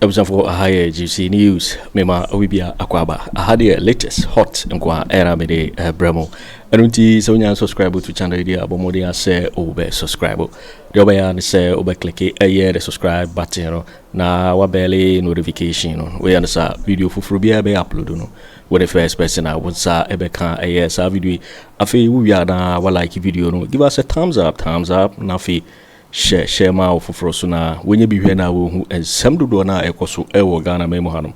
abusuafoɔ aha yɛ gypsy news mema awi bia akɔ aba aha deɛ latest hot nko a ɛna mede brɛ mu ɛno nti sɛ wonya subscribe to channel yi deɛ abɔ mmɔden asɛ wobɛ subscribe Deɛ wobɛyɛ ara ne sɛ wobɛkleke ɛyɛ the subscribe button no na wabɛle notification no. Woyɛ no saa a, video foforɔ biara ɛbɛyɛ upload no, wo ne first person a wo nsa ɛbɛka ɛyɛ saa video yi. Afei wowie a na walike video no, give us a thumbs up, thumbs up, na afei hyɛ hyɛ ma wo foforɔ so na wɔnyɛ bi hwɛ na wɔhu nsɛm dodoɔ no a ɛkɔ so ɛwɔ Ghana man mu hanom.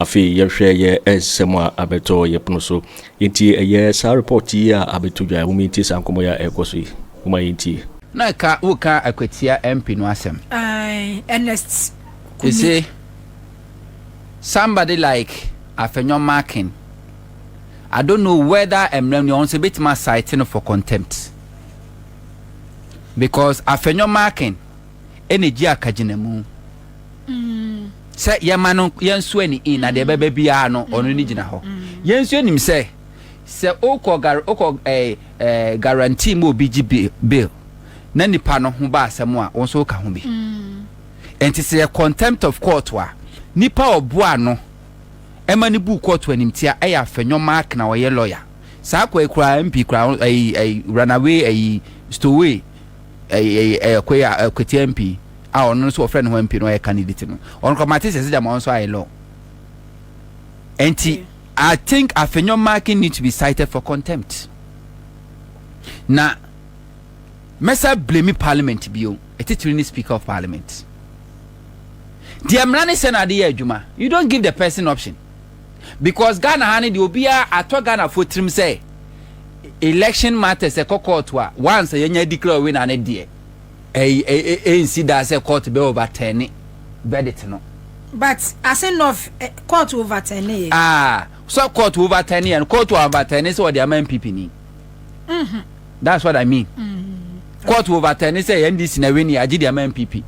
Afei yɛhwɛ yɛ nsɛm a abɛtɔ yɛ pono so. Yɛntie ɛyɛ saa report yi a abɛto dwa. Mom yɛntie saa nkɔmmɔ yi a ɛrekɔ so yi. Momma yɛntie. Na ɛka wo ka akwatia MP no asɛm. Ae Ernest Kumi. Ese somebody like Afenyo Markin I don't know whether mmra nua ho nso ebetumi a cite no for contempt because Afenyo Markin ɛna egye akagyinamu. sɛ yɛma no yɛnso ani in na deɛ mm. ɛbɛba biara no mm. ɔno ne gyina hɔ mm. yɛn nso anim sɛ sɛ okɔ gar okɔ ɛɛ eh, ɛɛ eh, guarantee mu obi gye bill na nipa no ho ba asɛm a wɔn nso ka ho bi nti sɛ yɛ contempt of court a nipa ɔboa no ɛma ne bu court animtia ɛyɛ afɛnyɔ mark na ɔyɛ lawyer saa akɔ ekura mp kura ɛyi ɛyi runaway ɛyi stoway ɛyɛ koya Kwatia MP a ɔno nso wɔfrɛ ne ho MP no ɔyɛ candidate no ɔno kɔ mate sɛ sɛ gyama ɔno nso ayɛ law nti I think Afenyo Marking need to be cited for contempt na mɛsa blame parliament bio ɛtitiri ne speaker of parliament deɛ mmara ne sɛ na ade yɛ adwuma you don't give the person option because Ghana ha no deɛ obiara atɔ Ghanafoɔ tirim sɛ election matters ɛkɔ court a once yɛnya declare winner no deɛ ɛnsi daa sɛ court bɛ overturn verdict no. But ase nɔf court overturn ne yɛ. Ah, sɛ court overturn yɛ no court overturn sɛ ɔde ama NPP ni. Mm-hmm. That's what I mean. Mm-hmm. Court overturn sɛ NDC na win yɛ agye de ama NPP.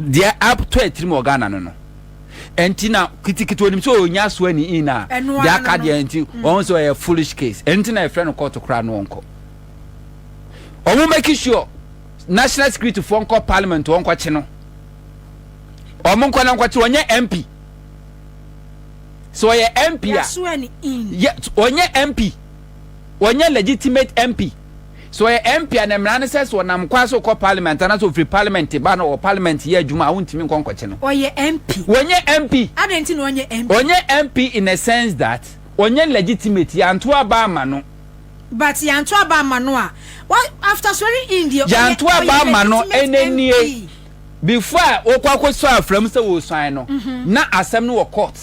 Deɛ up to atiri mu Ghana no no. ɛnti na kitikiti onim sɛ ɔnya so ani in a deɛ aka deɛ ɛnti mm. ɔho sɛ ɔyɛ foolish case ɛnti na ɛfrɛ no kɔɔto koraa no ɔnkɔ ɔmo make sure national security foɔ nkɔ parliament ɔnkɔ kye no ɔmo nkɔ na nkɔ kye ɔnyɛ mp sɛ ɔyɛ mp a ɔnyɛ mp Ɔnyɛ legitimate MP. Sɛ ɔyɛ MP a, ne mmara ne sɛ, sɛ ɔnam kwan so rekɔ Parliament anaasɛ ɔfiri Parliament ba na ɔwɔ Parliament yɛ adwuma a, wontumi nkɔ nkɔkye no. Ɔyɛ MP. Ɔnyɛ MP. Adɛn nti na ɔnyɛ MP? Ɔnyɛ MP in a sense that ɔnyɛ legitimate, yɛanto aba amma no. But yɛanto aba amma no a, after swearing in deɛ, ɔyɛ legitimate MP. Yɛanto aba amma no, ɛnnɛ nie. Before a wɔkɔ akɔsɔ afra mu sɛ wɔresuan no, na asɛm no wɔ court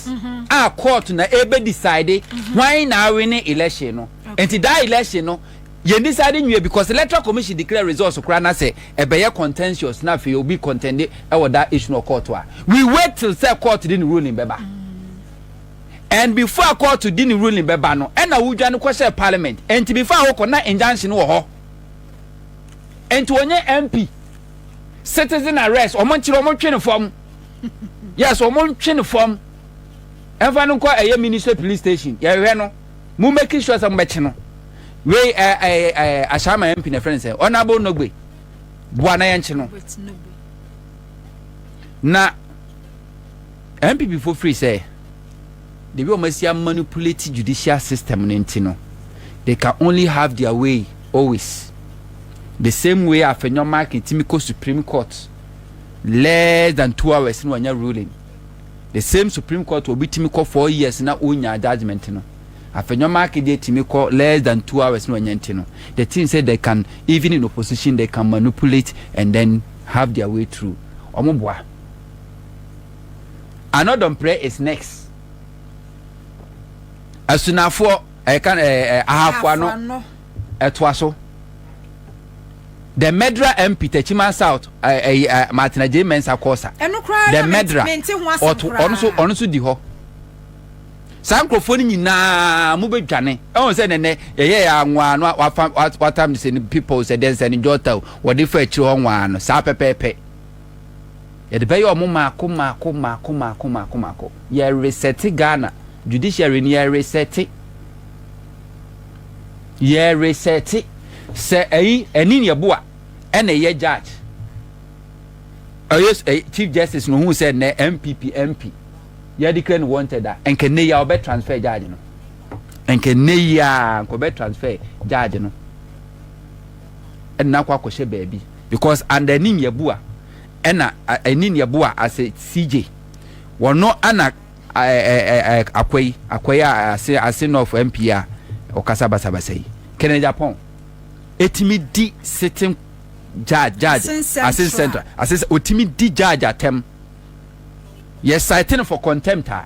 a court na ɛbɛ decide hwan na awene election no. Nti that election no yɛn decide nwie because electoral commission declare results koraa na sɛ ɛbɛyɛ contentious na afei obi contende ɛwɔ that issue no wɔ court a, we wait till sɛ court de ne ruling bɛba. And before a court de ne ruling bɛba no, ɛna wodwane kɔhyɛɛ parliament. Nti before a wokɔ na injunction wɔ hɔ. Nti ɔnyɛ MP. citizen arrest wɔn nkyerɛ wɔn ntwe ne fam yes wɔn ntwe ne fam ɛnfa no nkɔ ɛyɛ ministry police station yɛhwɛ no mo make sure sɛ mo bɛkye no wei ɛɛ ɛɛ ɛɛ ahyɛnma mp na ɛfrɛ no sɛ honourable nogbe boa na yɛn kye no na mpp fo firi sɛ. the way ɔmo asi a manipulate judicial system no nti no they can only have their way always the same way a Fenyo Markin timi kɔ Supreme Court less than two hours na wanya ruling the same Supreme Court obi timi kɔ four years na onyaa judgment no Afenyo Markin deɛ timi kɔ less than two hours na wanya nti no the thing say they can even in opposition they can manipulate and then have their way through ɔmo boa Another mpire is next. Asunafoɔ ɛka eh, ɛɛ eh, eh, ahafoa no ɛtoa so. The murderer MP Techiman South ɛɛ ɛɛ Martina J Mensah Kosa. The murderer ɔto ɔno so ɔno so di hɔ. Saa nkurɔfoɔ no nyinaa mo bɛ dwane ɛwɔn sɛ nɛnɛ yɛyɛ yɛ anwaa no wafa watam sɛ no people sɛ dɛn sɛ no jɔta o wɔde fa akyire hɔ nwaa no saa pɛpɛɛpɛ. Yɛde bɛyɛ ɔmo maako maako maako maako maako maako. Yɛ resɛte Ghana judiciary no yɛ resɛte. Yɛ resɛte. Sɛ ɛyi ɛni ni ɛboa ɛna ɛyɛ judge. Ɛyɛ ɛyɛ chief justice no ohun sɛ nɛ MPP MP. Yɛ declare no wanted a ɛnkɛ nɛ yɛ a ɔbɛ transfer judge no. Ɛnkɛ nɛ yɛ a nkɔ bɛ transfer judge no. ɛna akɔ akɔhyɛ baabi because under ɛne nyaboa ɛna ɛne nyaboa ase CJ wɔno ɛna akwa yi akwa yi ase ase north MP a ɔkasa basabasa yi kɛnɛ Japan ɛtumi di sitting judge judge ase central ase ɔtumi di judge atɛm Yɛ cite no for contempt a,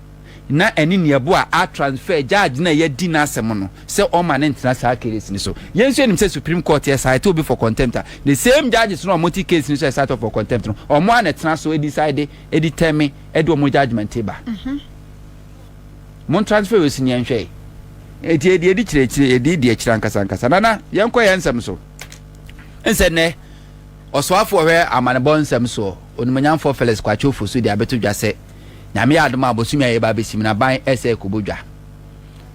na ɛne nea ɛboa a transfer judge no a yɛadi n'asɛm no sɛ ɔmma no ntena saa case no so. Yɛn nso yɛnim sɛ Supreme Court yɛ cite obi for contempt a, the same judges no a wɔte case no so a yɛcite wɔn for contempt no, wɔn ara na ɛtena so decide, determine, de wɔn judgement ba. Mon transfer wei so ne yɛnhwɛ. Eti yɛde yɛdi kyerɛ akyire, yɛde yɛdi akyire ankasa ankasa. Nana, yɛnkɔ yɛn nsɛm so. Nsɛ nnɛ, ɔsoafo ɔhwɛ amanebɔ nsɛm soɔ. Onimonyamfoɔ Felix Kwakye Ofosu de abɛto dwa sɛ, Nyame yɛ adom a bosome a yɛreba abɛsi mu no aban ɛsɛ ɛkɔbɔ dwa.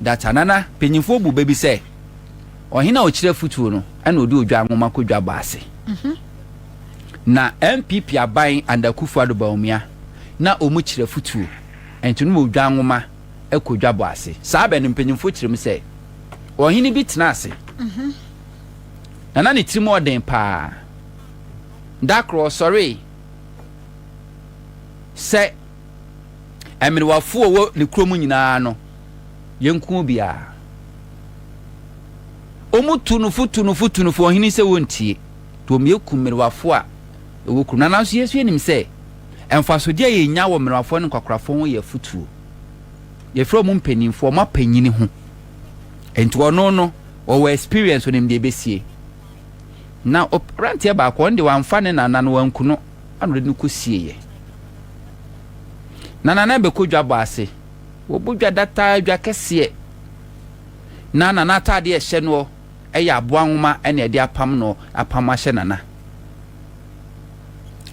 Data, Nana, mpanyimfoɔ bu bɛ bi sɛ, Ɔhene a ɔkyerɛ afutuo no na ɔde odwa nwoma kɔ dwa bɔ ase. Na NPP aban under Akuffo Addo Bawumia na wɔn kyerɛ afutuo, nti no odwa nwoma kɔ dwa bɔ ase. Saa bɛ no mpanyimfoɔ kyerɛ mu sɛ, Ɔhene bi tena ase, na na ne tirim ɔden paa. Da koro ɔsɔree sɛ ɛmenewafo a ɔwɔ ne kurom nyinaa no yɛnku obiara. Wɔtu no fo, tu no fo, tu no fo, ɔhene sɛ wɔntie, nti wɔyɛku mmenewafo a ɛwɔ kurom. Na nanso yɛn nso yɛnim sɛ mfasodeɛ a yɛnya wɔ mmenewafoɔ ne nkwakorafoɔ ho yɛ afotuo. Yɛfrɛ wɔn mpanimfoɔ, wɔn apanyini ho. Nti ɔno no, ɔwɔ experience, ɔnim deɛ ɛbɛsie. Na aberanteɛ baako, ɔno deɛ wamfa ne nana no, wanku no, ɛna ɔde no kɔsieeɛ. Na nana bɛkɔ dwa bɔ ase, wɔbɔ dwa dataa, dwa kɛseɛ. Na nana ataadeɛ ɛhyɛ noɔ, ɛyɛ aboa nwoma ɛna ɛde apam no, apam ahyɛ nana.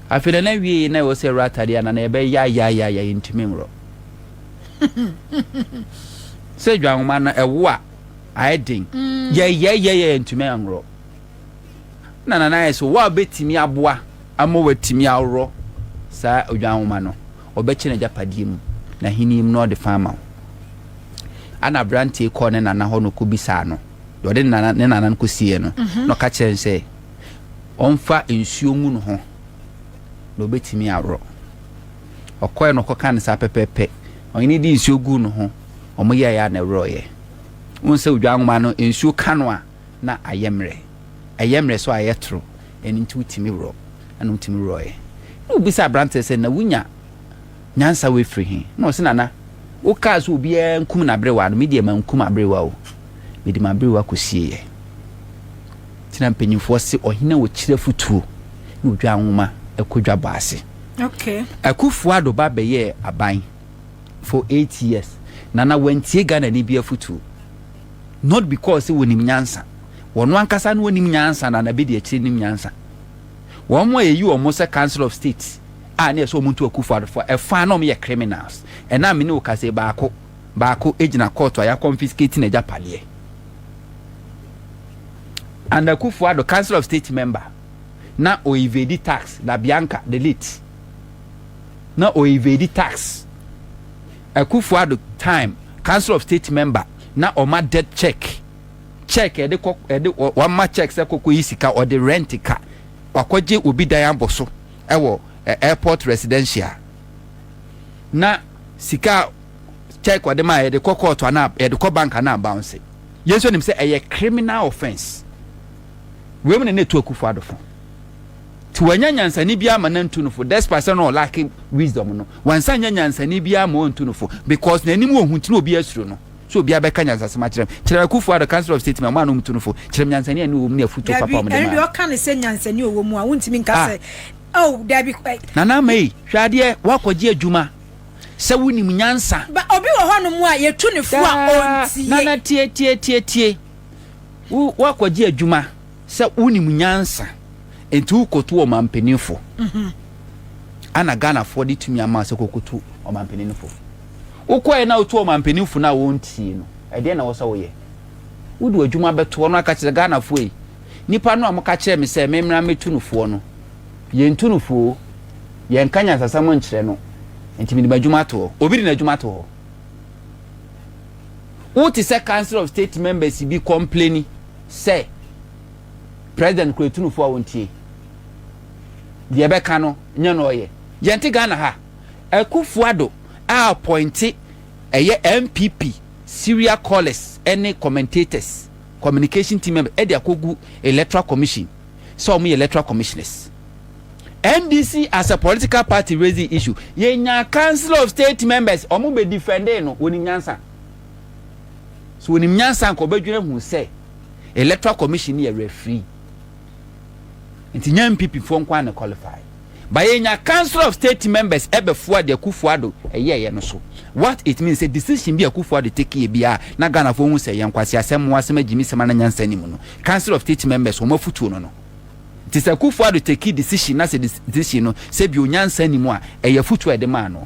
Afei nana wieeɛ na ɛwɔ sɛ ɛwura ataadeɛ a nana yɛbɛyɛ yaayaayaya yɛntumi nworɔ. Sɛ dwa nwoma no ɛwo a, ayɛ den yɛyɛyɛyɛ yɛntumi anworɔ na nana ayɛ sɛ wɔ a bɛtumi aboa ama watumi aworɔ saa odwan nwoma no ɔbɛkyɛ n'agyapadeɛ mu na ahenni mu na ɔde fa ama wo ana aberanteɛ kɔɔ ne nana hɔ na ɔkɔbisaa no deɛ ɔde ne nana no kɔsieɛ no mhm. na ɔka kyerɛ no sɛ ɔmfa nsuo ngu no ho na ɔbɛtumi aworɔ ɔkɔɛ no ɔkɔka no saa pɛpɛpɛ ɔhene de nsuo gu no ho wɔn yɛɛ a na ɛworɔ yɛ. Wohu sɛ odwan nwoma no nsuo ka no a na ayɛ mmerɛ. Ɛyɛ mmerɛ so a ɛyɛ toro, ɛno nti wotumi worɔ. Ɛna wotumi worɔ yɛ. Na wobisa abranteɛ sɛ na wonya nyansa wei firi he? Na ɔse nana wokaa sɛ obiara nkum n'aberewa no, me deɛ mankum aberewa o, mede m'aberewa kɔsie yɛ. Nti na mpanyinfoɔ se ɔhene a ɔkyiri afutuo ne odwan nwoma kɔ dwa bɔ ase. Okay. Akufo-Addo ba bɛyɛɛ aban. for eight years na na wantie Ghanani bi afutuo not because sɛ wɔnim nyansa wɔn ankasa no wɔnim nyansa na na bɛdi akyire nim nyansa wɔn a yɛyi wɔn sɛ council of state a na ɛsɛ wɔn nto akufo adofo ɛfa na wɔn yɛ criminals ɛna mene wo kase baako baako gyina court a yɛakɔnfiskate na agya padeɛ and akufo ado council of state member na ɔyivedi tax la bianca the late na ɔ evade tax, Akuffo Addo time council of state member na ɔma debt check, check ɛde kɔ ɛde wama check sɛ kɔkɔ yi sika ɔde rent ka, wakɔgye obi dan abɔ so ɛwɔ ɛ airport residential na sika a check ɔde ma yɛde kɔ court ana yɛde kɔ bank ana bounce, yɛn nso nim sɛ ɛyɛ criminal offence, wei mu na na etu Akuffo Addo fo. Nti wannya nyansani biara ma nantu no fo despite sɛ na ɔlake wisdom no. Wansan nya nyansani biara ma ɔntu no fo because n'anim wɔ hu nti na obiara suro no. So obiara bɛka nyansasɛm akyerɛ no. Kyerɛ me Kufuor Addo Council of State ma ɔmo a na ɔmo tu no fo. Kyerɛ me nyansani a ɛno wɔ mu ne afutuo papa a ɔmo de maa no. Dabi, ɛno deɛ ɔka ne sɛ nyansani a ɔwɔ mu a wontumi nka sɛ oh dabi eh. Nana Ama ei, hwɛ adeɛ, woakɔgye adwuma sɛ wonim nyansa. Ba obi wɔ hɔ nom a yɛtu ne fo a ɔntie. Daa, Nana tie tie tie tie, wo woakɔgye adwuma. Sɛ wonim nyansa nti wokɔtu ɔmanpaninfo ana Ghanafoɔ de tumi ama sɛ kɔkɔtu ɔmanpaninfo? Wokɔɛ na wotu ɔmanpaninfo no a wɔntie no ɛdeɛn na wɔsɛ woyɛ? Wode w'adwuma bɛto hɔ na woaka kyerɛ Ghanafoɔ ei nipa no a moka kyerɛɛ me sɛ memmra mmɛtu no foɔ no yɛntu no foɔ yɛnka nyansasɛm nkyerɛ no nti mede m'adwuma ato hɔ. Obi de n'adwuma ato hɔ? Wote sɛ Council of State members bi kɔmpleni. sɛ president kura tunufo a ɔntie deɛ ɛbɛka no nyɛ na ɔyɛ yɛnte Ghana ha Akufo Addo a appointe ɛyɛ NPP serial callers ɛne commentators communication team members ɛde akɔgu electoral commission sɛ wɔn yɛ electoral commissioners NDC as a political party raising issue yɛnya council of state members wɔn bɛ defending no wɔn nyansa. So wonim nyansa nka wɔbɛdwene ho sɛ electoral commission no yɛ referee? Nti nya MPP foɔ nko na qualify. Ba yɛnya council of state members ɛbɛfoa de Akufo Addo ɛyɛɛyɛ no so. What it means sɛ decision bi a Akufo Addo take yɛ biara na Ghana foɔ hu sɛ ɛyɛ nkwaseasɛm, mmoasɛm, agyimisɛm ana nyansa nni mu no, council of state members wɔn afutuo no no. Nti sɛ Akufo Addo take decision na sɛ decision no sɛ bio nyansa nni mu a, ɛyɛ afutuo a yɛde maa noɔ.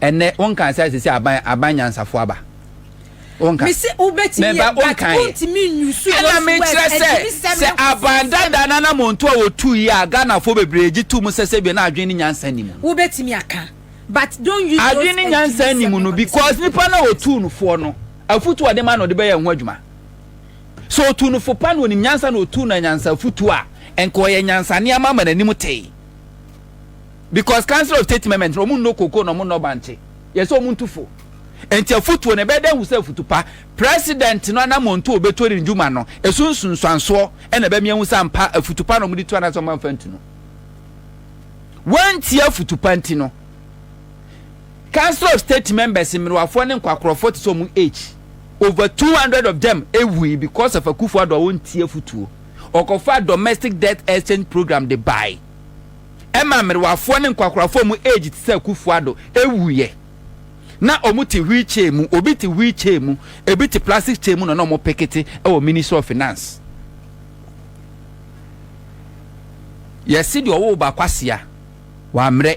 ɛnɛ wonkan sɛ sɛ aban aban nyansafo aba wonkan mesi wobɛtumi yɛ but wontumi nyusu ɛna mekyerɛ sɛ sɛ aban dada na na monto a wɔtu yi a ghanafoɔ bebree gye to mu sɛ sɛ bi na adwene ne nyansa ni mu wobɛtumi aka but don't use adwene ne nyansa ni mu no because nipa na wɔtu no foɔ no afutu ɔde ma na ɔde bɛyɛ ho adwuma sɛ ɔtu no fo pa na ɔnim nyansa na ɔtu no nyansa afutu a ɛnka ɔyɛ nyansa nneɛma ma n'anim tee Because council of state members no ɔmo nnɔ cocoa na ɔmo nnɔ bankye. Yɛ sɛ ɔmo ntu fo. Nti afutuo no ɛbɛyɛ dɛ ahu sɛ afutu pa. President no anamɔntu a ɔbɛtuo ne ndwuma no ɛso nsunsuansoɔ ɛna ɛbɛme ahu sɛ ampa afutu pa na ɔmo de tuo anaasɛ ɔmo amfa ntu no. Wantie afutu pa nti no council of state members mmerewafoɔ ne nkwakorɔfoɔ te sɛ ɔmo H over 200 of them ɛwui because of Akufo-Addo a ɔntie afutuo. Ɔkɔfaa domestic death exchange program de bae. ɛmaa mmerewafoɔ ne nkwakorafoɔ a wɔn age te sɛ Akuffo Addo wuiɛ. Na wɔte wheel chair mu, obi te wheel chair mu, ebi te plastic chair mu na na wɔn pekete wɔ Ministry of Finance. Yɛse deɛ ɔwoo ba kwasea, wammrɛ.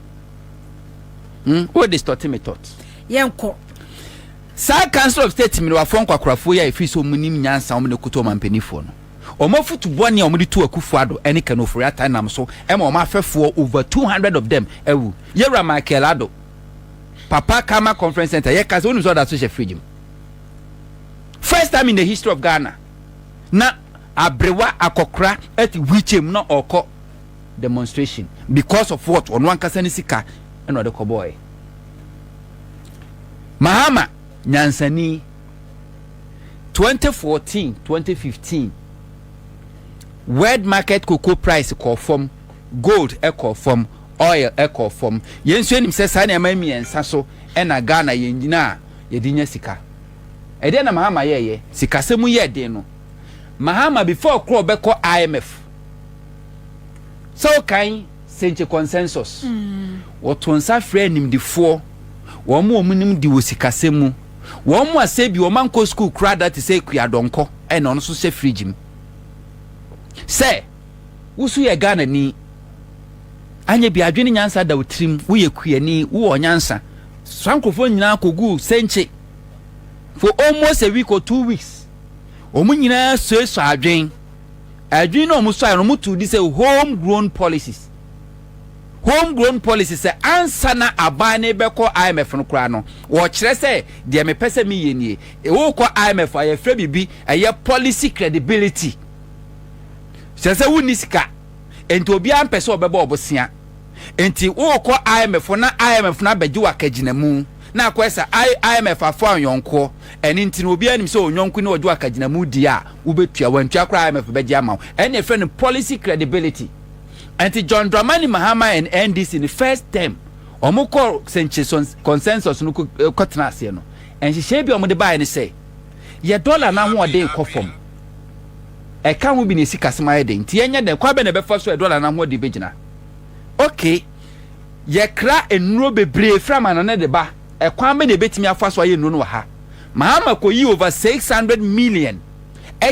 Hmm, wo de stɔte me tɔt. Yɛnkɔ. Saa Council of State mmerewafoɔ nkwakorafoɔ yi a ɛfiri sɛ wɔn nim nyansa wɔn na ɛkuta wɔn ampanifoɔ no, wɔn afutu bɔne a wɔn de tu Akufo Addo ɛne Ken Ofori Atta nam so ɛma wɔn afɛfoɔ over 200 of them awu. Yɛwura Michael Addo, Papa Karma Conference Center, yɛ ka sɛ wonim sɛ ɔda so hyɛ fridge mu. First time in the history of Ghana, na abrewa akɔkora ɛte wheelchair mu na ɔkɔ demonstration because of what ɔno ankasa ne sika ɛna ɔde kɔ bɔɔɛ mahama nyansani 2014 2015 world market cocoa price kɔɔ fam gold ɛkɔɔ fam oil ɛkɔɔ fam yɛn nso anim sɛ saa nneɛma mmiɛnsa so ɛna ghana yɛn nyina a yɛde nya sika ɛdeɛ na mahama yɛɛyɛ sikasɛm yɛ den no mahama before korɔ ɔbɛkɔ imf Sɛ wokan Senche Consensus, wɔtoo nsa frɛɛ animdefoɔ, wɔn a wɔnim de wɔ sikasɛm mu, wɔn a sɛ bi wɔankɔ sukuu koraa da te sɛ Akua Donkor a na ɔno nso hyɛ fridge mu, sɛ, Wo nso yɛ Ghanani, anyɛ bi a adwene nyansa da wo tirim, woyɛ kuani, wowɔ nyansa. Saa nkurɔfoɔ nyinaa kɔguu Senche for almost a week or two weeks, wɔn nyinaa suasuaa adwene. Adwene no a wɔsuaeɛ no, wɔtoo din sɛ Home Grown Policies. Home Grown Policies sɛ ansa na aban no rebɛkɔ IMF no koraa no, wɔkyerɛ sɛ deɛ mepɛ sɛ meyɛ nie. Wokɔ IMF a, yɛfrɛ biribi ɛyɛ policy credibility. Kyerɛ sɛ wonni sika, enti obiara mpɛ sɛ ɔbɛbɔ ɔbosea. Enti wokɔ IMF na IMF no abɛgye wo akagyinamu. Na akɔyɛ sa I IMF afoa ɔnyɔnkoɔ ɛne nti no obiara nim sɛ ɔnyɔnko ne ɔdwo akagyinamu deɛ a wobɛtua wantua koraa IMF bɛgye ama wo ɛne ɛfrɛ no policy credibility ɛnti John Dramani Mahama and NDC no first term ɔmo kɔ sɛnkyeso consensus no kɔ tena aseɛ no nhyehyɛɛ bi a ɔmo de baeɛ ne sɛ yɛ dollar no ahoɔden kɔ fam ɛka ho bi ne sikasɛm ayɛ den nti yɛnyɛ dɛn kwan bɛn na ɛbɛfa so a dollar no ahoɔden bɛgyina okay. Yɛkra nnuro bebree firi amannɔne de ba. Ɛkwan bɛn na yɛbɛtumi afa so ayɛ nnuro no wɔ ha? Mahama kɔyii over six hundred million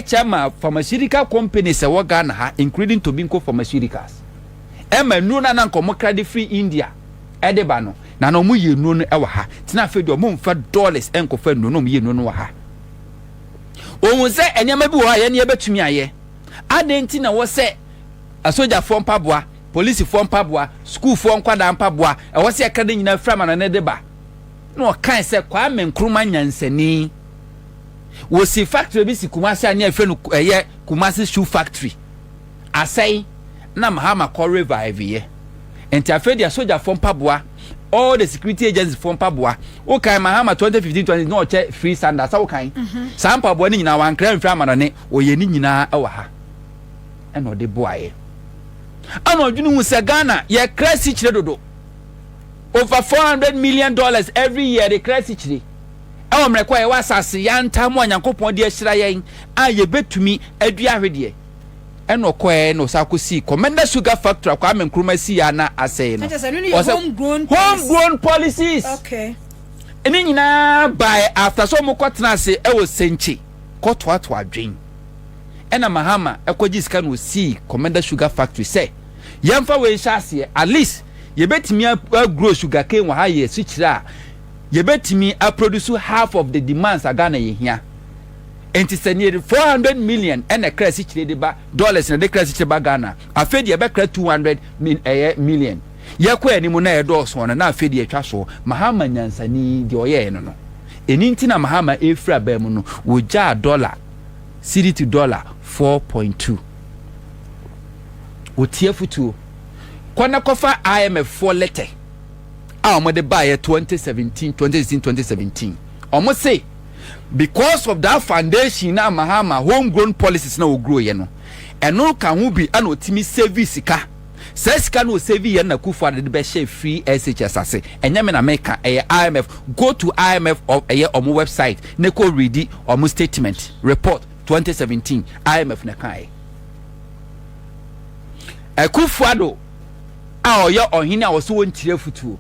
kyɛ maa pharmaceutical companies a ɛwɔ Ghana ha including Tobinco Pharmaceuticals ɛma nnuro no a na anka wɔkra de firi India de ba no na na wɔyɛ nnuro no wɔ ha nti na afei deɛ wɔmfa dollars nkɔfa nnuro no wɔyɛ nnuro no wɔ ha. Wɔhu sɛ nneɛma bi wɔ hɔ a yɛn yɛbɛtumi ayɛ. Adɛn nti na ɛwɔ sɛ asogyafoɔ mpaboa polisifoɔ mpaboa, sukuufoɔ nkwadaa mpaboa, ɛwɔ sɛ yɛka ne nyinaa firi amanɔne de ba. Na ɔkae sɛ Kwame Nkrumah nyansani. Wɔsi factory bi si Kumasi a ne yɛfrɛ no ɛyɛ Kumasi Shoe Factory. Asɛe na Mahama kɔ revive yɛ. Nti afei deɛ sogyafoɔ mpaboa, all the security agency foɔ mpaboa, wokan Mahama 2015 20 na ɔkyɛ free Sanders, sɛ wokan? Mhm. Saa mpaboa ne nyinaa wankra mfiri amanɔne, ɔyɛ ne nyinaa wɔ ha. na ɔde boaeɛ ana ɔdwene hu sɛ Ghana yɛkra sikyire dodo over 400 million dollars every year de kra sikyire ɛwɔ mmerɛ kɔ a yɛwɔ asase yantaa mu a Nyankopɔn de ahyira yɛn a yɛbɛtumi adua ahwedeɛ ɛna ɔkɔɛ na ɔsa akɔsii Commenda Sugar Factory a Kwame Nkrumah sii a na asɛe no ɔsɛ home grown policies ne nyinaa baɛ after sɛ ɔmo kɔtena ase ɛwɔ Sɛnkye kɔtoatoa adwen ɛna Mahama kɔgyee sika na ɔsii Commander Sugar Factory sɛ yɛmfa wei nhyɛ aseɛ, at least yɛbɛtumi agrow sugarcane wɔ ha yɛ asukyerɛ a yɛbɛtumi aproduce half of the demands a Ghana yɛhia. Enti sɛ nearly 400 million ɛna ɛkra asikyire de ba, dollars na ɛde kra asikyire ba Ghana a, afei deɛ ɛbɛkra 200 min, ɛyɛ million. Yɛkɔ anim na ɛdɔɔso no, na afei deɛ ɛtwa soɔ. Mahama nyansani, deɛ ɔyɛeɛ no no, ɛno nti na Mahama ɛrefiri aba mu no, wɔgyaa dollar Cedi to dɔla four point two. Wɔtie afotuo. Kɔ na kɔfa IMF foɔ lɛtɛ a wɔde baeɛ twenty seventeen, twenty sixteen, twenty seventeen. Wɔse because of that foundation na Mahama home grown policies na ɔgroeɛ no, ɛno ka ho bi na ɔtumi savee sika. Saa sika no ɔsave yɛ na Kufuor de bɛhyɛ free SHS ase ɛnyɛ me na meka ɛyɛ IMF go to IMF of ɛyɛ ɔmo website ne kɔ readi ɔmo statement report 2017 IMF na ɛkaeɛ Akuffo Addo a ɔyɛ ɔhene a ɔsɛ ɔntiri afutuo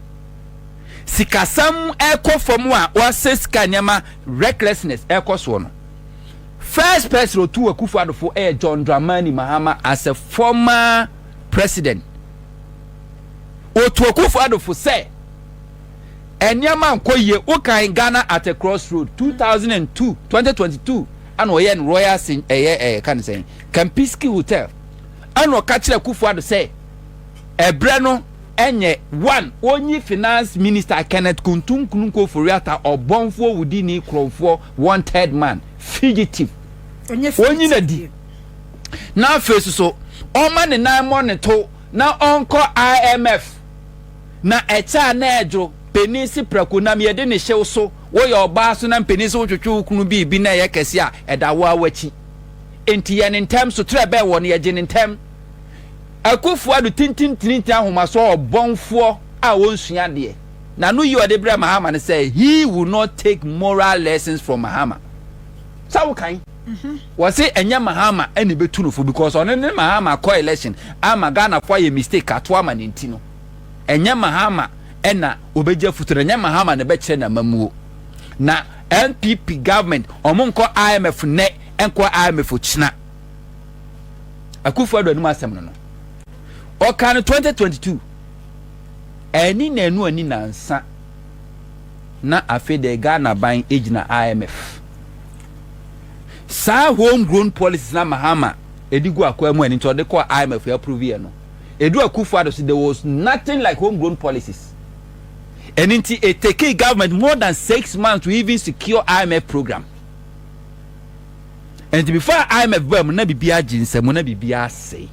sikasɛm ɛkɔ fam a ɔasɛ sika nneɛma recklessness ɛkɔ soɔ no First person otu Akufo Addo fo yɛ John Dramani Mahama as a former president. Otu Akufo Addo fo sɛ nneɛma nkɔ yie. Wokan Ghana at a cross road 2002, 2022 ɛna ɔyɛ no Royal Sin ɛyɛ ɛyɛ ka ne sɛn Kempinski Hotel ɛna ɔka kyerɛ Akufo Addo sɛ ɛbrɛ no ɛnyɛ one onyi finance minister Kenneth Kuntunkunu Koforeatta ɔbɔnfoɔ wudini korɔmfoɔ Wanted man, fugitive. Wɔnyi no di. Na afei so so, ɔmma ne nan mmɔ ne to na ɔnkɔ IMF. Na ɛkyɛ a na ɛdwo, panin se prako nam yɛde ne hyɛ wo so. Woyɛ ɔbaa so na mpanin se wotwetwe wo kunu biribi na ɛyɛ kɛse a, ɛda wo ara w'akyi. Enti yɛ no ntɛm, soterɛ bɛn wɔ no, yɛgye no ntɛm. Akufo-Addo tintintinintin ahomasoɔ ɔbɔnfoɔ a ɔnsua adeɛ. Na no yi ɔde brɛ Mahama no sɛ he will not take moral lessons from Mahama. Sɛ wo kan, wɔ se ɛnyɛ Mahama na ɛbɛtu no fo because ɔno ne Mahama kɔ election ama Ghanafoɔ ayɛ mistake ato ama no nti no, ɛnyɛ Mahama na ɔbɛgye afutuo no, ɛnyɛ Mahama na ɛbɛkyerɛ no amamuo. Na NPP government, ɔmo nkɔ IMF nnɛ, ɛnkɔ IMF ɔkyena. Akufo-Addo anim asɛm no no, ɔkaa no 2022. Anni nnanu anni nnansa na afei deɛ Ghana ban gyina IMF. Saa home grown policies na Mahama de gu akwaa mu a ɛno nti ɔde kɔɔ IMF yɛ approve yɛ no. Ɛdu Akufo Addo so there was nothing like home grown policies. Ɛno nti it takee government more than six months to even secure IMF program. Ɛnti before IMF baa mu na biribiara gye nsam na biribiara asɛe.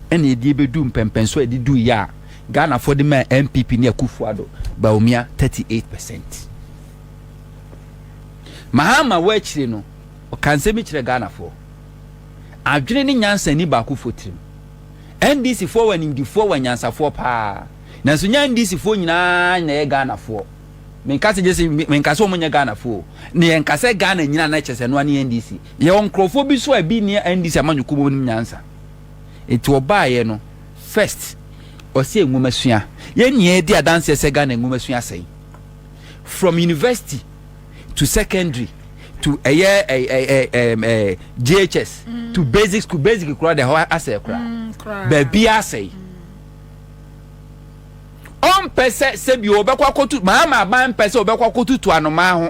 ɛna ɛdie bɛdu mpɛmpɛnso a ɛde du yɛ a Ghanafoɔ de maa NPP ne Akufo-Addo, Bawumia 38 percent. Mahama wɔ akyire no, ɔka nsɛm bi kyerɛ Ghanafoɔ. Adwene ne nyansa ni baakofoɔ tirim. NDCfoɔ wɔ animdifoɔ wɔ anyansafoɔ paa. Nanso nyɛ NDCfoɔ nyinaa na ɛyɛ Ghanafoɔ. Menka sɛ gyese menka sɛ wɔn nyɛ Ghanafoɔ. Na yɛnka sɛ Ghana nyinaa na kyerɛ sɛ ɛnoa ne NDC. Yɛwɔ nkorɔfoɔ bi nso a ebi nni andi sɛ amanyɔkuo mu wɔnim nyansa. Enti wɔbaeɛ no, first, ɔsɛ nwomasua. Yɛn nyinaa di adanseɛ sɛ Ghana nwomasua asɛe. From university to secondary to ɛyɛ JHS to basic school, basic koraa deɛ ɛhɔ asɛe koraa. Baabiara asɛe. Ɔmpɛ sɛ sɛbi wɔbɛkɔ akɔtu, Mahama aban mpɛ sɛ wɔbɛkɔ akɔtutu anomaa ho.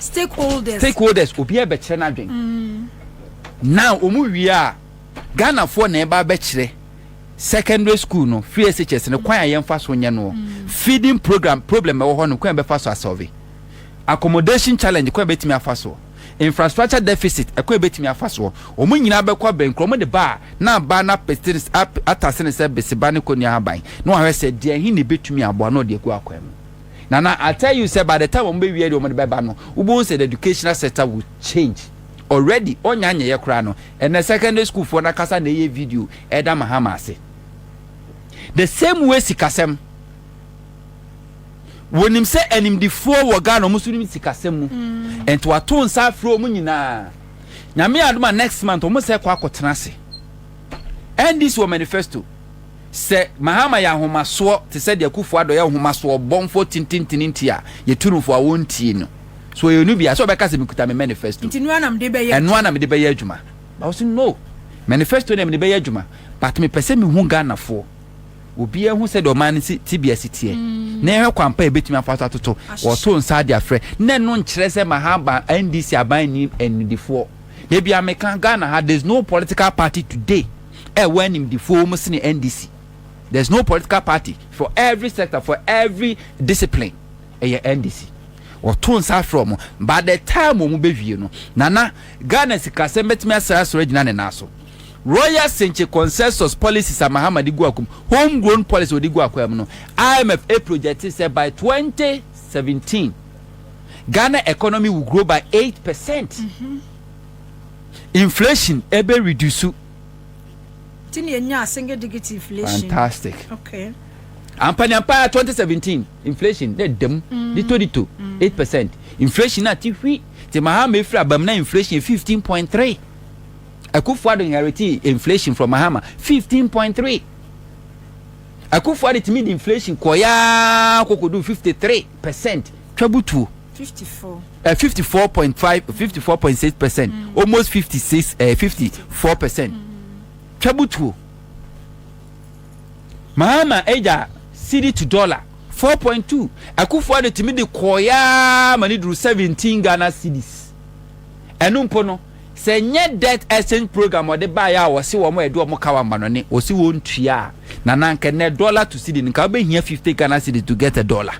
stakeholders stakeholders obiara bɛkyerɛ n'adwen now wɔn wie a Ghanafoɔ na ɛba bɛkyerɛ secondary school no free SHS no kwan a yɛmfa so nyɛ noɔ feeding program problem ɛwɔ hɔ no kwan bɛfa so asɔve accommodation challenge kwan bɛtumi afa soɔ infrastructure deficit ɛkwan bɛtumi afa soɔ wɔn nyinaa bɛkɔ abɛnkura wɔn de ba a na aba na atase ne sɛ beseba ne kɔnua aban na wɔahwɛ sɛ deɛ ɛhe ne bɛtumi aboa na ɔde agu akwan mu. Nana I tell you sɛ by the time ɔmo bɛ wia deɛ ɔmo de bɛ ba no wo bɛ hu sɛ the educational sector will change already ɔnya nyɛyɛ koraa no ɛnɛ secondary school foɔ no akasa na ɛyɛ video ɛda Mahama ase the same way sikasɛm wɔnim sɛ animdifoɔ wɔ Ghana ɔmo so nim sikasɛm mu ɛnti mm. wato nsa afrɛ ɔmo nyinaa nyame adoma next month ɔmo sɛ kɔ akɔtena ase ɛndi si wɔ manifesto Sɛ Mahama yɛ ahomasoɔ te sɛ deɛ Akuffo Addo yɛ ahomasoɔ ɔbɔnfoɔ tintintini nti a yɛtu no fo a wɔntie no. So ɔyɛ no bia? Sɛ ɔbɛka sɛ mekuta me manifesto Nti noa na mede bɛyɛ ɛno ara na adwuma. mede bɛyɛ adwuma but ɔse no manifesto deɛ mede bɛyɛ adwuma but mepɛ sɛ mehu Ghanafoɔ obiara hu sɛdeɛ ɔman no si tebea si teɛ na yɛhwɛ kwan pa a yɛbɛtumi afa so atoto Ahyehyɛ. ɔtoo nsa de afrɛ na ɛno nkyerɛ sɛ Mahama NDC aban nnim anidifoɔ. Dabiaa meka Ghana ha there's no political party today. ɛwɔ animdefoɔ mu sene NDC. There is no political party for every sector, for every discipline. Ɛyɛ NDC. Wɔto nsa afrɛ wɔn. By the time wɔn bɛwie no, nana Ghana sikasɛm bɛtumi asɛ asɔre agyina ne nan so. Royal Senkye consensus policies a Mahama de gu akwam, home grown policy wɔde gu akwam no, IMF projected sɛ by 2017 Ghana economy will grow by 8%. Mm -hmm. Inflation ɛbɛ reduce. Ti ni enya single digit inflation. Fantastic. Okay. Ampa ni ampa 2017 inflation na ɛdam mm. dito dito 8 percent. Inflation na ti hwi ti Mahama efiri abam na inflation 15.3. Akufo-Addo inheriti inflation from Mahama 15.3. Akufo-Addo timi di inflation kɔyaa kokodu 53 percent twa butuo. fifty four. ẹ fifty four point five fifty four point six percent mm. almost fifty six ẹ fifty four percent mm. twabutuo mahama ẹja city to dollar four point two akufoɔ de tìmi de kɔɔyaa ma ne duru seventeen ghana cities ẹnu mpo no sɛ nyɛ debt exchange program ɔde baayɛ a wɔsi wɔn ɛde wɔn ka wɔn abanɔne wɔsi wɔn tua na nanka nɛ dollar to city nka wɔbɛhia fifty ghana cities to get a dollar.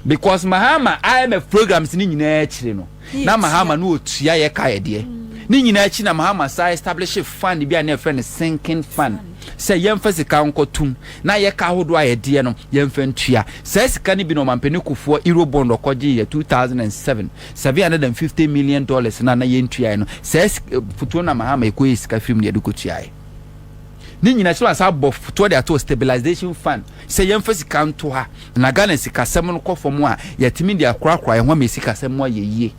because mahama imf programs ne nyinaa akyire no na mahama no ɔtua yɛ ka yɛdeɛ ne nyinaa akyi na mahama saa establish fund bi a na ɛfrɛ no sinking fund sɛ yɛmfa sika nkɔtom na yɛka ahodoɔ a yɛdeɛ no yɛmfa ntua saa sika no bi na ɔmampani kofoɔ eurobond ɔkɔgye yɛ 2007 750 million dollars na na yɛntuaeɛ no saa fotuo na mahama ɛkɔyɛ sika firim ne yɛde kɔtuaeɛ ne nyinaa kyerɛ asa abɔ fotoɔ de ato stabilization fund Sɛ yɛmfa sika nto ha na Ghana sikasɛm no kɔ fam a, yɛatumi de akorakora yɛn ho ama yɛn sikasɛm mu ayɛ yie.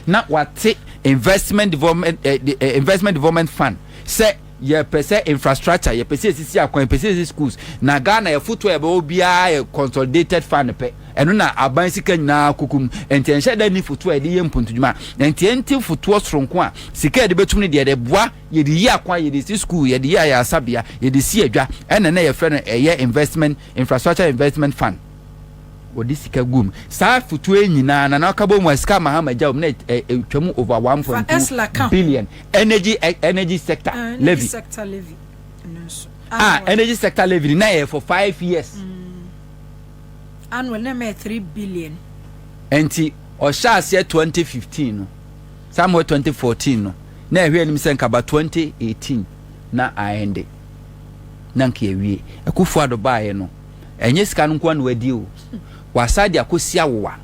Na wɔate Investment Development, Investment Development Fund sɛ yɛpɛ sɛ infrastructure, yɛpɛ sɛ yɛsisi akwan, yɛpɛ sɛ yɛsisi schools. Na Ghana afotuo a yɛbɛwɔ biara yɛ consolidated fund pɛ. Ɛno na aban sika nyinaa kɔkɔ mu. Nti ɛnhyɛ da nni fotoɔ a yɛde yɛ mpontudwuma. Nti ɛnte fotoɔ soronko a sika a yɛde bɛtum no deɛ ɛde boa Yɛde yi akwan, yɛde si sukuu, yɛde yi ayaresabea, yɛde si adwa, ɛna na yɛfrɛ no ɛyɛ investment, infrastructure investment fund. Wɔde sika gu mu. Saa afotuo yi nyinaa, Nana Ɔkabom a sika a Mahama gya wɔ mu no ɛtwa mu over one point two billion. Energy, energy sector levy, ah, energy sector levy no na ɛyɛ for five years. Annual na ɛma yɛ three billion. Ɛnti ɔhyɛ aseɛ twenty fifteen no. Saa mmoa 2014 no na ɛhwɛ anim sɛ nka ba 2018 na aɛnde na nka yɛawie. Akufo Addo baeɛ no ɛnyɛ sika no nko ara na wadi o, wasan de akɔsi awowa.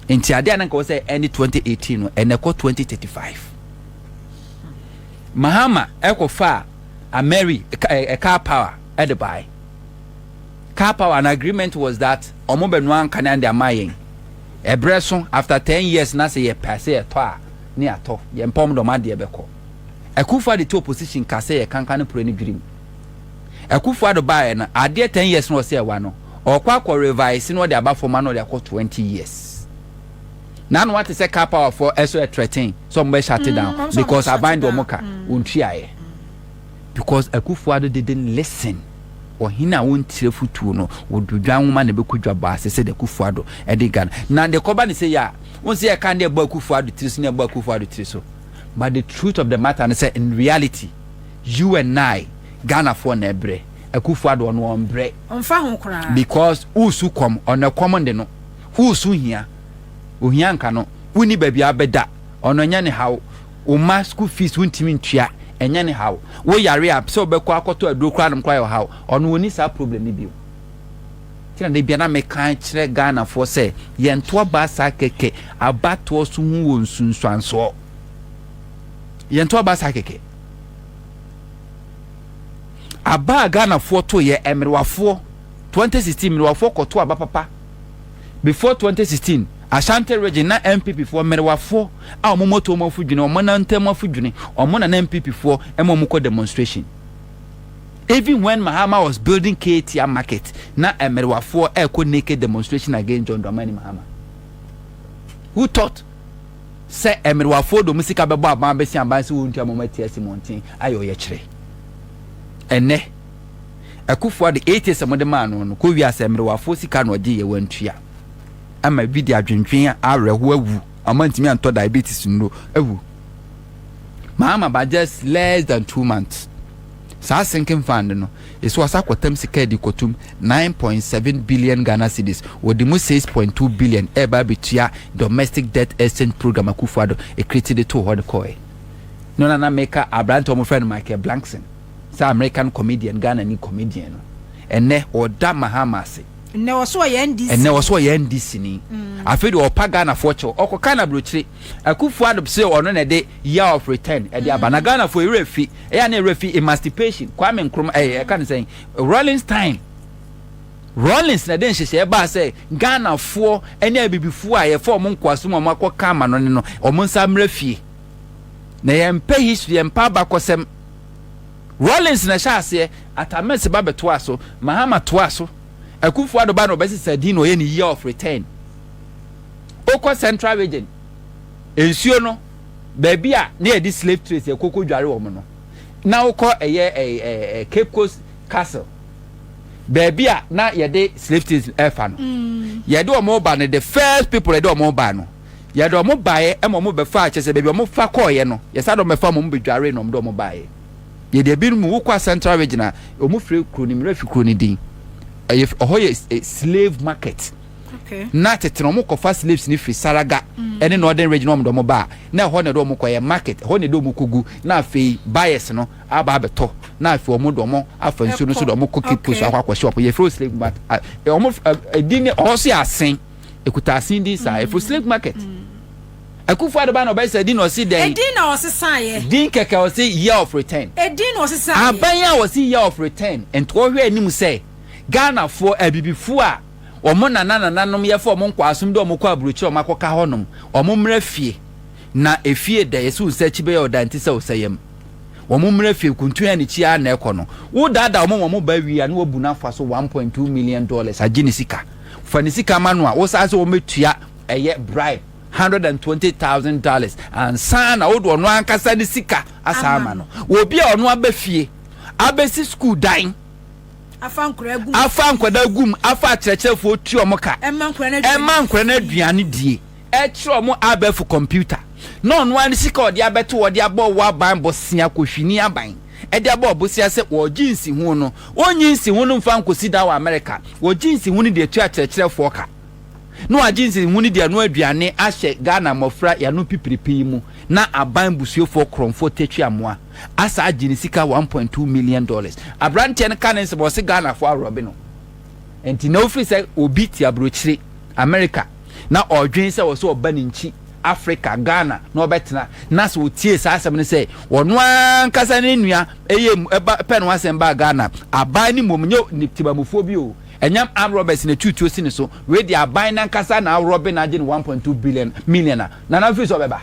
Nti adeɛ a na nka wɔ sɛ ɛnde 2018 no ɛnna ɛkɔ 2035. Mahama ɛkɔfaa Ameri car power ɛde baeɛ. car power and agreement was that ɔmo bɛ noa nkan and de ama yɛn ɛbrɛ so after ten years na sɛ yɛ pɛ sɛ yɛ tɔ a ne yɛ atɔ yɛ mpɛ ɔmo de ɔmo adeɛ bɛ kɔ akufo ade te opposition ka sɛ yɛ kanka ne pore ne dwirim akufo ado baa yɛ no adeɛ ten years na ɔsɛ ɛwa no ɔkɔ akɔ revise na ɔde aba fam ana ɔde akɔ twenty years na ano ate sɛ car power fo ɛso ɛtrɛten sɛ ɔmo bɛ shut down because aban de ɔmo ka wɔn tua yɛ. because Akufo Addo didn't listen ɔhene a ɔntie afotuo no wɔdo dwan nwoma na ɛbɛkɔ dwa bɔ ase sɛdeɛ Akufo Addo ɛde Ghana na deɛ kɔba no sɛ yɛ a wɔn sɛ yɛka ne ɛbɔ Akufo Addo tiri so ne ɛbɔ Akufo Addo tiri so but the truth of the matter no sɛ in reality you and I Ghanafoɔ na ɛbrɛ Akufo Addo ɔno ɔmbrɛ ɔmfa ho koraa because wosu kɔm ɔno ɛkɔm de no wosu hia ohia nka no woni baabi a bɛda ɔno ɛnyɛ ne haw Wo mma school fees wontumi ntua, ɛnyɛ ne haw. Wo yare a sɛ wobɛkɔ akɔtɔ aduro koraa nom koraa yɛ ɔhaw. Ɔno ɔnni saa problem no bio. Nti na da bia na meka kyerɛ Ghanafoɔ sɛ yɛnto aba saa kɛkɛ. Abatoɔ so ho wɔ nsunsuansoɔ. Yɛnto aba saa kɛkɛ. Aba a Ghanafoɔ toeɛ, mmerewafoɔ, 2016 mmerewafoɔ kɔto aba papa. Before twenty sixteen, Ashanti Region na NPP foɔ mmerewafoɔ a wɔn moto wɔn afudwene, wɔn nan ntam afudwene, wɔn na na NPP foɔ ma wɔn kɔ demonstration. Even when Mahama was building Ketia market, na mmerewafoɔ ɛrekɔ naked demonstration against John Dramani Mahama. Who thought sɛ mmerewafoɔ de wɔn sika bɛbɔ aban bɛsi aban sɛ wɔntua ma wɔn ati asi mmɔnten ayɛ ɔyɛkyerɛ? Ɛnnɛ. Akufo Addo etie sɛ mode maa no no kɔ wia sɛ mmerewafoɔ sika na ɔgye yɛ wantua ama ebi de adwendwen a awerɛhoɔ awu ɔmo antumi antɔ diabetes nnuro awu Mahama by just less than two months saa sinking fund no ɛsi wɔ sa kɔtam sika adi kɔtum 9.7 billion Ghana cedis wɔde mu 6.2 billion ɛba abɛtua domestic debt exchange program Akufo Addo ɛkreti de too hɔ de kɔɛ no na na meka aberante ɔmo frɛ no Michael Blankson Saa American comedian, Ghanani comedian no, ɛnnɛ ɔda Mahama ase. Nnɛ ɔse ɔyɛ NDC-ni. Ɛnnɛ ɔse ɔyɛ NDC-ni. Afei deɛ ɔrepa Ghanafoɔ kyɛw. Ɔkɔka no abrokyire. Akuffo Addo se ɔno na ɛde year of return ɛde aba. Na Ghanafoɔ yɛn werɛ fi. Ɛyɛ a na yɛn werɛ fi emancipation, Kwame Nkrumah, ɛɛ yɛka no sɛn, Rawlings time. Rawlings na ɛde nhyehyɛeɛ baa sɛ Ghanafoɔ ne Abibifoɔ a yɛfa wɔn nkoasom a wɔakɔka amanɔne no, wɔn nsa mmra fie. Na yɛmpɛ history, yɛmpɛ abakɔsɛm. Rawlings na ɛhyɛɛ aseɛ, Atta Mills ba bɛtoaa so, Mahama toaa so, Akuffo Addo ba na ɔbɛsesaa din na ɔyɛɛ no Year of Return. Wokɔ Central Region, nsuo no, baabi a na yɛde slave trades yɛkɔ kɔdware wɔn no, na wokɔ ɛyɛ ɛɛ Cape Coast Castle, baabi a na yɛde slave trades ɛfa no, yɛde wɔn ba no, the first people yɛde wɔn baa no, Yɛde wɔn baeɛ ma wɔn bɛfaa kyɛ sɛ baabi a wɔfa kɔeɛ no yɛsan de wɔn bɛfa ma wɔn bɛdwaree na wɔde wɔn baeɛ. Yɛde ebinom wokɔ a Central Region a wɔn fire kuro no mmerɛ fi kuro no din ɛyɛ ɔhɔ yɛ slave market okay. na tete na wɔn kɔfa slaves no firi Saraga mm. ɛne Northern Region wɔn de wɔn ba na ɛhɔ na ɛde wɔn kɔ yɛ market ɛhɔ na ɛde wɔn kɔ gu na afei buyers no aba abɛtɔ na afei wɔn de wɔn afa nsuo no so de wɔn kɔ Cape Coast akɔ akɔ shop yɛfrɛ slave market wɔn ɛdi ne ɔhɔ so yɛ asen. Ekutaase din saa. Efo slave market. Akufo ado ba na ɔbɛyɛ sɛ din na ɔsi dɛn? Edin na ɔsesaeɛ. Din kɛkɛ ɔsi year of return. Edin na ɔsesaeɛ. Aban a ɔsi year of return nto ɔhwɛ anim sɛ Ghana foɔ, abibifo a ɔmo nana nananom yɛfa ɔmo nkɔasom dɛ ɔmo kɔ abrokyire ɔmo akɔ ka hɔ nom. Ɔmo mmra fie. Na efie dɛ yɛsi wo sɛ akyi bɛyɛ ɔda nti sɛ ɔsɛ yɛm. Ɔmo mmra fie kuntu yɛ ne kyi ara na ɛkɔ no. Wo daadaa ɔmo ma ɔmo ba wie a na wabu no afa so one point two million dollars agye ne sika. Fa ne sika ma no a, wosan sɛ wɔbɛtua ɛyɛ bribe hundred and twenty thousand dollars ansa na wode ɔno ankasa ne sika asan ama no. Obi a ɔno aba fie abɛsi sukuu dan, afa nkwadaa gu mu, afa akyerɛkyerɛfoɔ tua wɔn ka, ɛmma nkwadaa no aduane die. ɛkyerɛ ɔmo abɛɛfo kɔmputa na ɔno ara ne sika a ɔde abɛto hɔ de abɔ ɔwɔ aban bosea kɔ hwini aban ɛde abɔ ɔbosea sɛ ɔregye nsiho no ɔnyi nsiho no mfa nkɔsi dan wɔ Amerika ɔgye nsiho no de atua akyerɛkyerɛfoɔ ka na wagye nsiho no de anoa aduane ahyɛ Ghana mmɔfra yanom pipiripi yi mu na aban busuefoɔ korɔmfoɔ Tetwi Amoa asaa gye ne sika one point two million dollars aberanteɛ no ka ne nsɛm ɔse Ghanafoɔ aworɔbe no. Enti na ofiri sɛ obi te aburokyire, Amerika, na ɔredwen sɛ ɔsɛ ɔba ne nkyi, Afrika, Ghana, na ɔbɛtena. Na sɛ otiee saa asɛm no sɛ ɔno ankasa ne nua yɛ mu ba pɛ no asɛm baa Ghana, aban no mmom, nyɛ ne tebamufoɔ bi o, ɛnyam armed robbers na ɛtuu tuo si ne so, wei deɛ aban no ankasa na arɔbe no agye no one point two billion, million a, Nana ofiri sɛ ɔbɛba.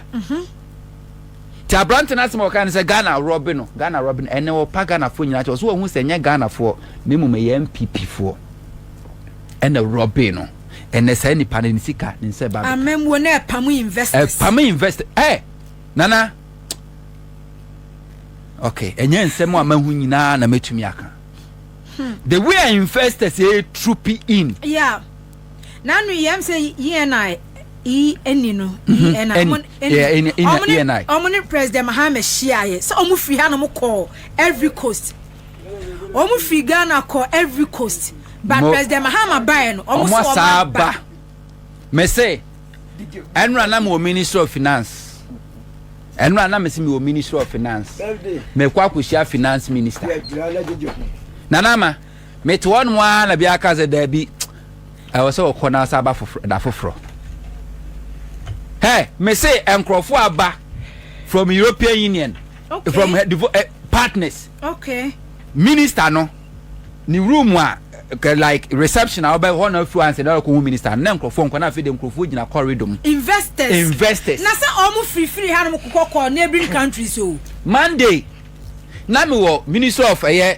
Nti aberante no asɛm a ɔkae no sɛ Ghana rɔbe no, Ghana rɔbe no, ɛnɛ wɔpa Ghanafoɔ nyinaa kyɛ. Ɔsɛ wɔhu sɛ ɛnyɛ Ghanafoɔ na mmom ɛyɛ NPP foɔ ɛna rɔbe no. Ɛnɛ saa nipa no ne sika ne nsa ɛba bɛka. Amammuo no ɛpam investors. Ɛpam investors. Ɛ nana. Okay, ɛnyɛ nsɛm a mahu nyinaa na mɛtumi aka. Hmm. The way investors ɛtrupi in. Yeah. nanu yɛm sɛ ENI yi ɛni no ENI ɔmo ɛni ɔmo ne ɔmo ne president Mahama hyia yɛ sɛ ɔmo firi ha na ɔmo kɔ every coast ɔmo firi Ghana kɔ every coast but president Mahama ba yɛ no ɔmo sɛ ɔmo aba mɛsɛ ɛnura na mi wɔ ministry of finance ɛnura na mi si mi wɔ ministry of finance mɛ kɔ akɔhyia finance minister nana ama. Mete hɔnom ara na biara ka sɛ, Dabi, ɛwɔ sɛ wɔkɔ na asa aba foforɔ, da foforɔ. Hɛ, mese nkurɔfoɔ aba from European Union, okay. from her uh, eh, partners. Okay. Minister no, ne room a eh, like reception a ɔbɛ hɔ na afi ansa na ɔkɔ hu minister na nkurɔfoɔ nkɔ na afei de nkurɔfoɔ gyina corridor mu. investors investors. na sɛ wɔn firifiri ha nom kɔkɔ kɔ neighboring countries o. monday na mi wɔ ministry of ɛyɛ. Eh,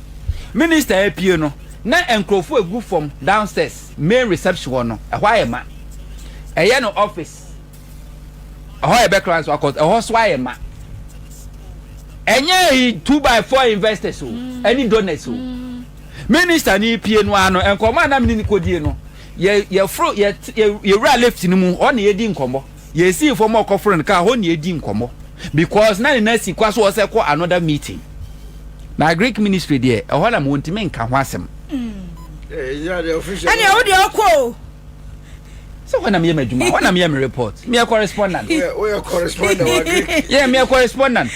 Minister apue no na nkurɔfo agu fam downstairs main reception hɔ no ɛhɔ ayɛ ma. Ɛyɛ no office ɛhɔ yɛ bɛkra nso akɔ ɛhɔ so ayɛ ma. Ɛnyɛ yi two by four investors o ɛne donors o. Minister no repue no ara no nkɔmmɔ a na me ne no kɔdie no yɛ yɛforo yɛ yɛwura lift no mu hɔ na yɛdi nkɔmmɔ. Yɛsii fam a ɔkɔforo no kaa hɔ na yɛdii nkɔmmɔ because na ne nan si kwa so ɔsɛ ɛkɔ another meeting na Greek ministry deɛ ɛhɔ nam wɔntumi nka ho asɛm. Ɛnna ɛwo deɛ ɔkɔ o. Sɛ hɔ nam yɛ m'adwuma hɔ nam yɛ me report meyɛ correspondent. Woyɛ correspondent wa Greek. Yɛ meyɛ correspondent.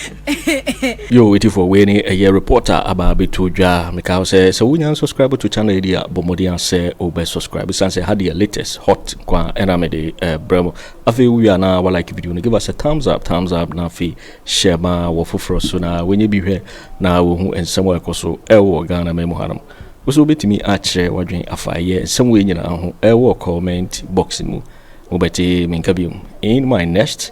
Yoo atifoɔ wei ne ɛyɛ report a aba abɛto dwa mekaa wo sɛ sɛ wonya nsubscribe to channel yi deɛ a bɔ mmɔden a sɛ wobɛ subscribe ɛsiane sɛ ɛha deɛ latest hot nko a ɛna mede ɛbrɛ mo afei wowie a na wa like video no give us a thumbs up thumbs up na afei share ma wɔ foforɔ so na wɔnyɛ bi hwɛ na wɔhu nsɛm a ɛkɔ so ɛwɔ Ghana ma mu hanom wo so wobɛtumi akyerɛ wadwen afa ɛyɛ nsɛm wei nyinaa ho ɛwɔ comment box mu mobɛte menka biom in my next